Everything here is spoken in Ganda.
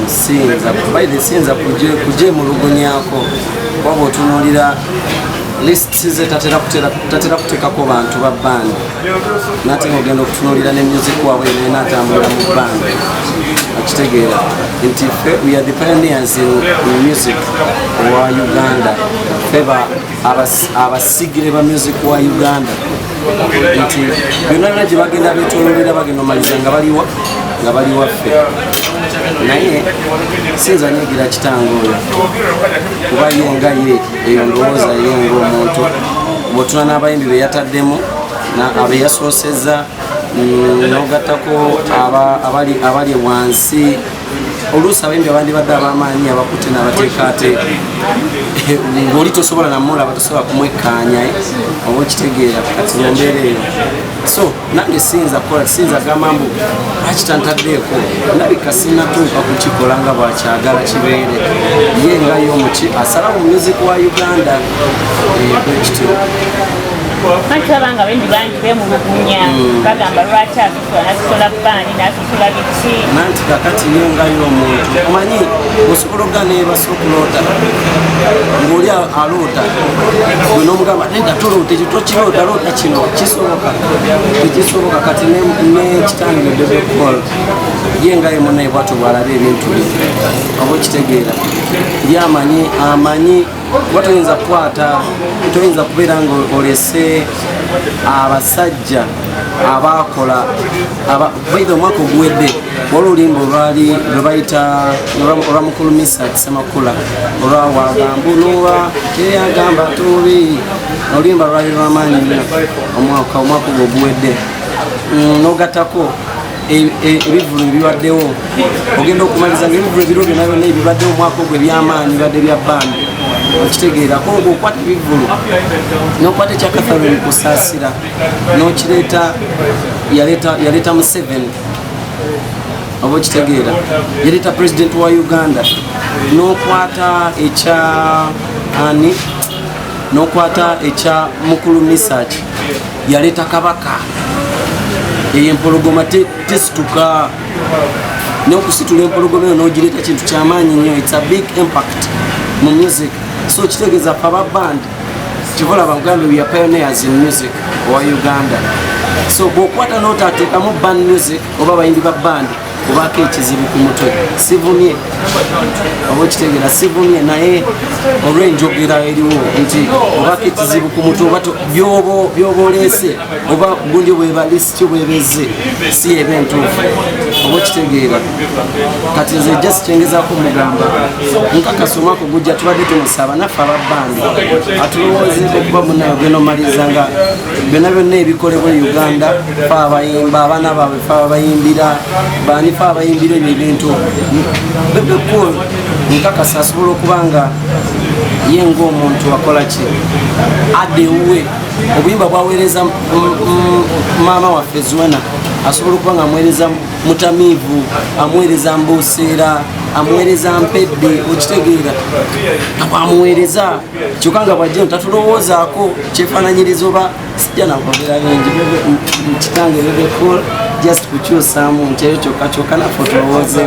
siyinza baire siyinza kugyemulugunyako waba otunulira lists ze tatera kuteekako bantu ba band nate ogenda okutunulira ne music waabwe naye natambulira mu band akitegeera nti fe we are the pioneers in music owa uganda feba abasigire ba music wa uganda nti byonna byona gye bagenda betololera bagenda omaliza nga baliwa nga bali waffe naye sinza nyigira kitange oyo kuba ye nga ye eyo ndowooza ye ngaomuntu bwotuna n'abayimbi beyataddemu abeyasooseza mm, nogattako abali wansi oluusi abayimbi abandibadde abamaanyi abakutte n'abateekaateeka eh, ng'oli tosobola namulaba tosobola kumwekkaanya eh, oba okitegeera kati mumbeera eyo so nange siyinza kukola siyinza gamba mbu akitantaddeeko nabika sinatuuka kukikola nga bwakyagala kibeere ye nga ye omuki asala mu music wa uganda eh, bwekityo nkitabanga bendi bangi bemulugunya mm. bagamba lwaki abe nasosola bbaani nasosola biki nanti kakati yo nga yo omuntu omanyi osobola okugana ebasa okuloota ngaoli aloota gwe nomugamba neda toloota ekyo tokiloota loota kino kisoboka ekisoboka kati nekitange bebekol ye nga yemunaye bwatyo bwalaba ebintu bye oba okitegeera ye amanyi amanyi kuba toyinza kukwata toyinza kubeera nga olese abasajja abaakola baitha omwaka oguwedde wali olimba olwali lwebayita olwa mukulu misa kisemakula olwawagambu nowa teyagamba tubi olimba lwali lwamaanyi nyo omwaka omwaka ogwo oguwedde mm, nogatako E, e, ebivulu ebibaddewo ogenda okumaliza nga ebivulu ebiro byona byona ebibaddewo omwaka ogwo ebyamaanyi bibadde bya bandi okitegeera ko nga okwata ebivulu nokwata ekyakathaloni kusaasira nokireeta yaleeta museveni oba okitegeera yaleeta pulezidenti wa uganda nokwata ekya ani nokwata ekya mukulu misaki yaleeta kabaka eyo empologoma tesituka nokusitula empologoma eyo nogireeta kintu kyamaanyi nyo its a big impact mu music so kitegeeza fe aba band kivolaba uganda weare pioneers in music owa uganda so bwokwata notateekamu band music oba bayimbi ba bandi kubako ekizibu ku mutwe sivumye oba okitegera sivumye naye olwenjogera eriwo nti obako ekizibu ku mutwe oba byoba oleese oba gundi bwebalesi kyo bwebeze si eba entuufu oba okitegeera kati nze just kyengezako mugamba nkakasa omwaka ogujja tubadde tumusaba naffe ababbandi atulowoozeko kuba munayo gwenomaliza nga byonna byonna ebikolebwa e uganda fe abayimba abaana baabwe abayimbira banifa abayimbira ebyo ebintu bebekul nkakasa asobola okuba nga ye ngaomuntu akola ki adde ewuwe obuyimba bwaweereza maama waffe zuena asobola okuba nga amuweereza mutamiivu amuweereza mbuuseera amuweereza mpedde okitegeera amuweereza kyokka nga bwajjeno tatulowoozaako kyefaananyiriza oba sijja nakwogera bingi kitange bebe cool just kukyusaamu nti eyo kyokka kyokka naffe otulowooze